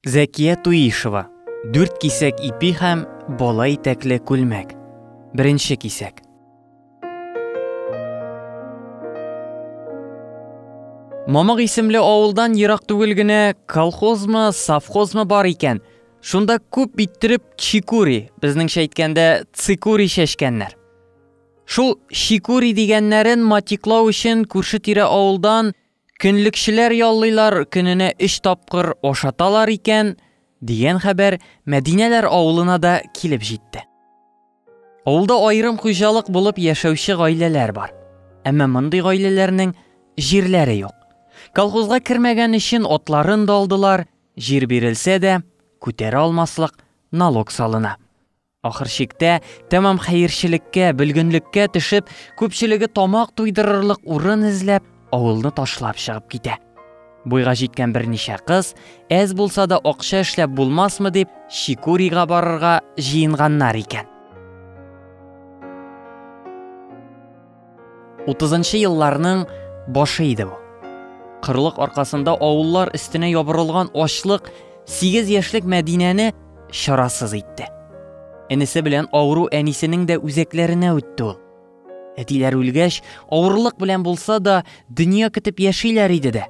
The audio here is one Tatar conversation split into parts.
Зәкия Туишева, дүрт кисәк ипи һәм бала итәкле күлмәк. Беренче кисәк. Мамык исемле авылдан ерак түгел генә колхозмы, совхозмы бар икән. Шунда күп иттереп чикури, безнеңчә әйткәндә цикури чәчкәннәр. Шул чикури дигәннәрен матиклау өчен күрше-тирә авылдан Көнлекчеләр яллыйлар, көненә өч тапкыр ашаталар икән, дигән хәбәр Мәдинәләр авылына да килеп җитте. Авылда аерым хуҗалык булып яшәүче гаиләләр бар. Әмма мондый гаиләләрнең җирләре юк. Колхозга кермәгән өчен атларын да алдылар, җир бирелсә дә, күтәрә алмаслык налог салына. Ахыр чиктә, тәмам хәерчелеккә, бөлгенлеккә төшеп, күпчелеге тамак туйдырырлык урын эзләп, авылны ташлап чыгып китә. Буйга җиткән берничә кыз, әз булса да акча эшләп булмасмы дип, Чикурига барырга җыенганнар икән. Утызынчы елларның башы иде бу. Кырлык аркасында авыллар өстенә ябырылган ачлык 8 яшьлек Мәдинәне чарасыз итте. Энесе белән авыру әнисенең дә үзәкләренә үтте ул. Әтиләр үлгәч, авырлык белән булса да, дөнья көтеп яшиләр иде дә.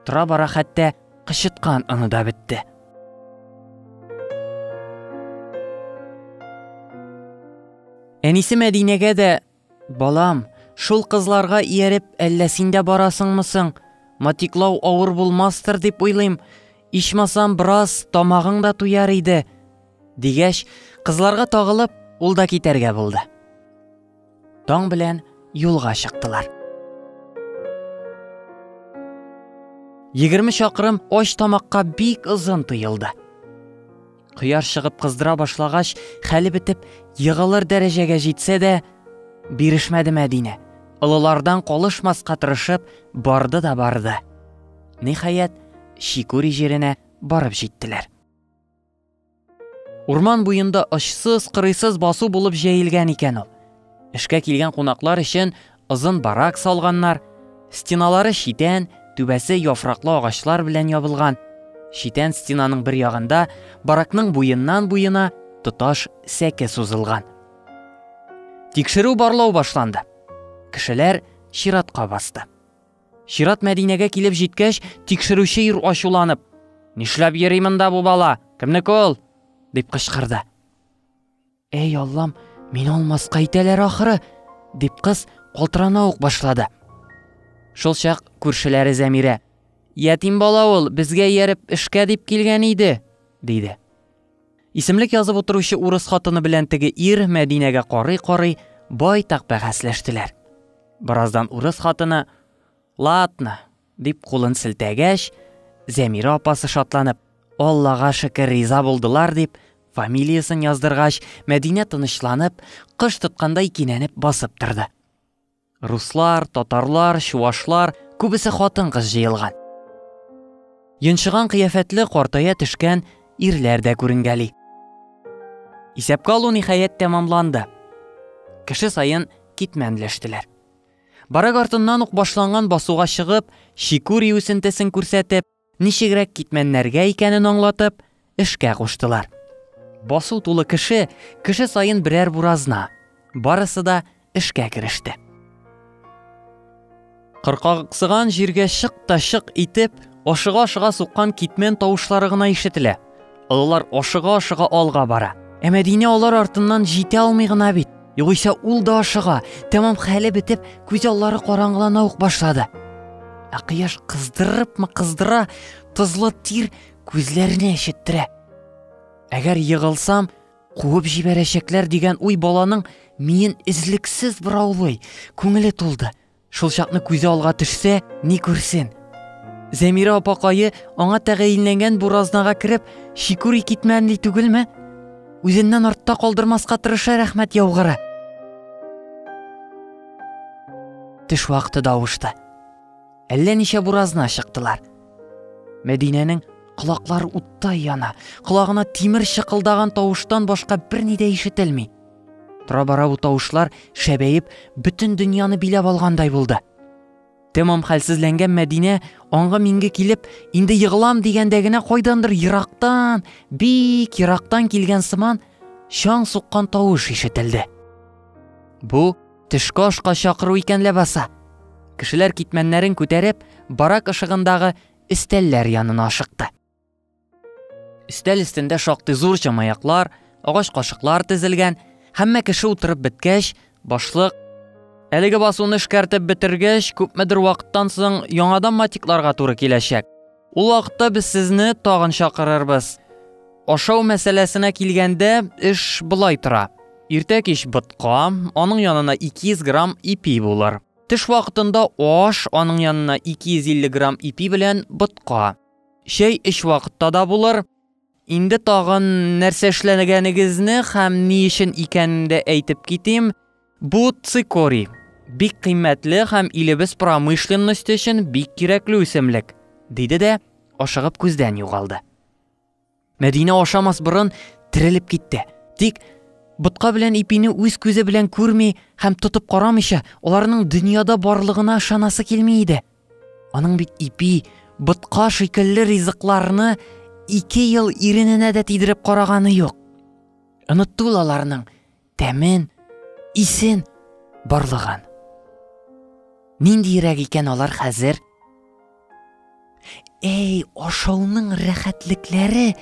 Тора-бара хәтта Кычыткан оны да бетте. Әнисе Мәдинәгә дә, балам, шул кызларга ияреп, әллә син дә барасыңмы соң? Матиклау авыр булмастыр дип уйлыйм. Ичмасам, бераз тамагың да туяр иде. Дигәч, кызларга тагылып, ул да китәргә булды. Таң белән юлга чыктылар. Егерме чакрым оч тамакка бик озын тыйылды. Кыяр чыгып кыздыра башлагач, хәле бетеп, егылыр дәрәҗәгә җитсә дә, бирешмәде Мәдинә. Олылардан колышмаска тырышып, барды да барды. Нихаят, Шикури җиренә барып җиттеләр. Урман буенда очсыз кырыйсыз басу булып җәелгән икән ул. Эшкә килгән кунаклар өчен озын барак салганнар. Стеналары читән, түбәсе яфраклы агачлар белән ябылган. Читән стенаның бер ягында баракның буеннан буена тоташ сәке сузылган. Тикшерү барлау башланды. Кешеләр чиратка басты. Чират Мәдинәгә килеп җиткәч, тикшерүче ир ачуланып, Нишләп йөри монда бу бала? Кемнеке ул? дип кычкырды. Әй Аллам, мин алмаска итәләр ахыры, дип кыз калтырана ук башлады. Шул чак күршеләре Зәмирә, Ятим бала ул, безгә ияреп эшкә дип килгән иде, диде. Исемлек язып утыручы урыс хатыны белән теге ир Мәдинәгә карый-карый байтак бәхәсләштеләр. Бераздан урыс хатыны «Ладно», дип кулын селтәгәч, Зәмирә апасы шатланып, Аллага шөкер, риза булдылар дип, фамилиясен яздыргач, Мәдинә тынычланып, кыш тоткандай кинәнеп басып торды. Руслар, татарлар, чувашлар, күбесе хатын-кыз җыелган. Йончыган кыяфәтле картая төшкән ирләр дә күренгәли. Исәпкә алу ниһаять тәмамланды. Кеше саен китмәнләштеләр. Барак артыннан ук башланган басуга чыгып, чикүри үсентесен күрсәтеп, Ничегрәк китмәннәргә икәнен аңлатып, эшкә куштылар. Басу тулы кеше, кеше саен берәр буразна. Барысы да эшкә кереште. Кыркаксыган җиргә чык та чык итеп, ашыга-ашыга суккан китмән тавышлары гына ишетелә. Олылар ашыга-ашыга алга бара. Ә Мәдинә алар артыннан җитә алмый гына бит. Югыйсә ул да ашыга. Тәмам хәле бетеп, күз аллары караңгылана ук башлады. Ә кояш кыздырыпмы кыздыра, тозлы тир күзләрне әчеттерә. Әгәр егылсам, куып җибәрәчәкләр дигән уй баланың миен эзлексез бораулый, күңеле тулды. Шул чакны күзе алга төшсә, ни күрсен? Зәмирә апакайы аңа тәгаенләнгән бу разнага кереп, шикүри китмәнли түгелме? Үзеннән артта калдырмаска тырыша рәхмәт яугыры. Төш вакыты да авышты. Әллә ничә буразна чыктылар. Мәдинәнең Колаклар уттай яна, колагына тимер шыкылдаган тавыштан башка берни дә ишетелми. Тора-бара бу тавышлар шәбәеп, бөтен дөньяны биләп алгандай булды. Тәмам хәлсезләнгән Мәдинә аңга минге килеп, инде егылам дигәндә генә кайдандыр ерактан, бик ерактан килгән сыман чаң суккан тавыш ишетелде. Бу төшке ашка чакыру икән ләбаса. Кешеләр китмәннәрен күтәреп, барак ышыгындагы өстәлләр янына ашыкты. Өстәл өстендә шактый зур чамаяклар, агач кашыклар тезелгән. Һәммә кеше утырып беткәч, башлык Әлеге басуны эшкәртеп бетергәч, күпмедер вакыттан соң яңадан матикларга туры киләчәк. Ул вакытта без сезне тагын чакырырбыз. Ашау мәсьәләсенә килгәндә, эш былай тора. Иртә кич ботка, аның янына 200 грамм ипи булыр. Тыш вакытында аш, аның янына 250 грамм ипи белән ботка. Чәй өч вакытта да булыр. Инде тагын нәрсә эшләгәнегезне һәм ни өчен икәнен дә әйтеп китим. Бу цикорий. Бик кыйммәтле һәм илебез промышленность өчен бик кирәкле үсемлек, диде дә ашыгып күздән югалды. Мәдинә ашамас борын терелеп китте. Тик ботка белән ипине үз күзе белән күрми һәм тотып карамыйча, аларның дөньяда барлыгына ышанасы килми иде. Аның бит ипи, ботка шикелле ризыкларны ике ел ирененә дә тидереп караганы юк. Онытты ул аларның тәмен, исен барлыгын. Ниндиерәк икән алар хәзер? Әй, ашауның рәхәтлекләре!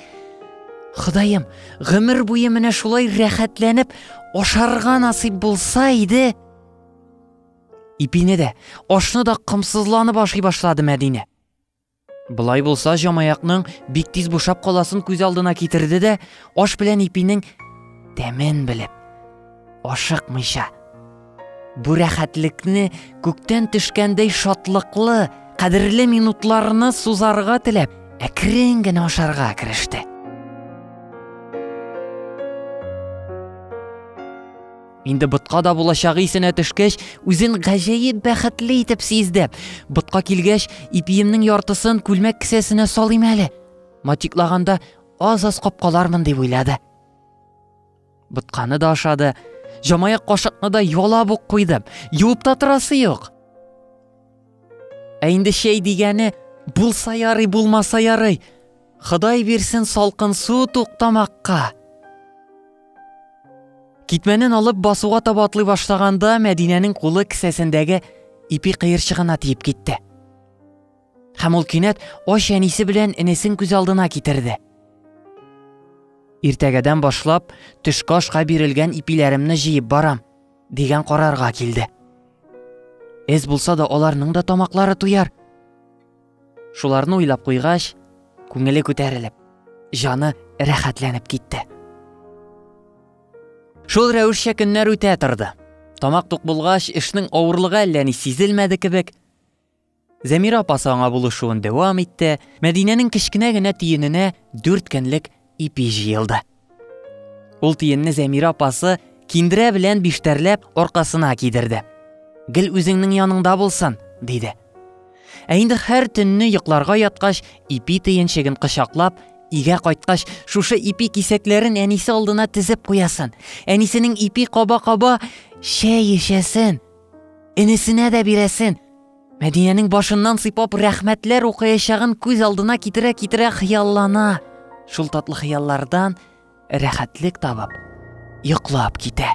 Ходаем, гомер буе менә шулай рәхәтләнеп ашарга насыйп булса иде. Ипине дә, ашны да комсызланып ашый башлады Мәдинә. Былай булса, җамаякның бик тиз бушап каласын күз алдына китерде дә, аш белән ипинең тәмен белеп, ашыкмыйча, бу рәхәтлекне күктән төшкәндәй шатлыклы, кадерле минутларны сузарга теләп, әкрен генә ашарга кереште. Инде ботка да булачагы исенә төшкәч, үзен гаҗәеп бәхетле итеп сизде. Ботка килгәч, ипиемнең яртысын күлмәк кесәсенә салыйм әле. Матиклаганда аз-аз капкалармын дип уйлады. Ботканы да ашады, җамаяк кашыкны да ялап ук куйды. Юып та торасы юк. Ә инде чәй дигәне булса ярый, булмаса ярый. Ходай бирсен салкын су туктамакка. Китмәнен алып басуга таба атлый башлаганда Мәдинәнең кулы кесәсендәге ипи кыерчыгына тиеп китте. Һәм ул кинәт ач әнисе белән энесен күз алдына китерде. Иртәгәдән башлап төшкашка бирелгән ипиләремне җыеп барам. дигән карарга килде. Эз булса да аларның да тамаклары туяр. Шуларны уйлап куйгач, күңеле күтәрелеп, жаны рәхәтләнеп китте. Шул рәвешчә көннәр үтә торды. Тамак тук булгач, эшнең авырлыгы әллә ни сизелмәде кебек. Зәмирә апасы аңа булышуын дәвам итте. Мәдинәнең кечкенә генә тиененә дүрт көнлек ипи җыелды. Ул тиенне Зәмирә апасы киндерә белән биштәрләп аркасына кидерде. Гел үзеңнең яныңда булсын, диде. Ә инде һәр төнне йокларга яткач, ипи тиенчеген кочаклап, Игә кайткач, шушы ипи кисәкләрен әнисе алдына тезеп куясын. Әнисенең ипи каба-каба чәй эчәсен. Энесенә дә бирәсен. Мәдинәнең башыннан сыйпап рәхмәтләр укыячагын күз алдына китерә-китерә хыяллана. Шул татлы хыяллардан рәхәтлек табып, йоклап китә.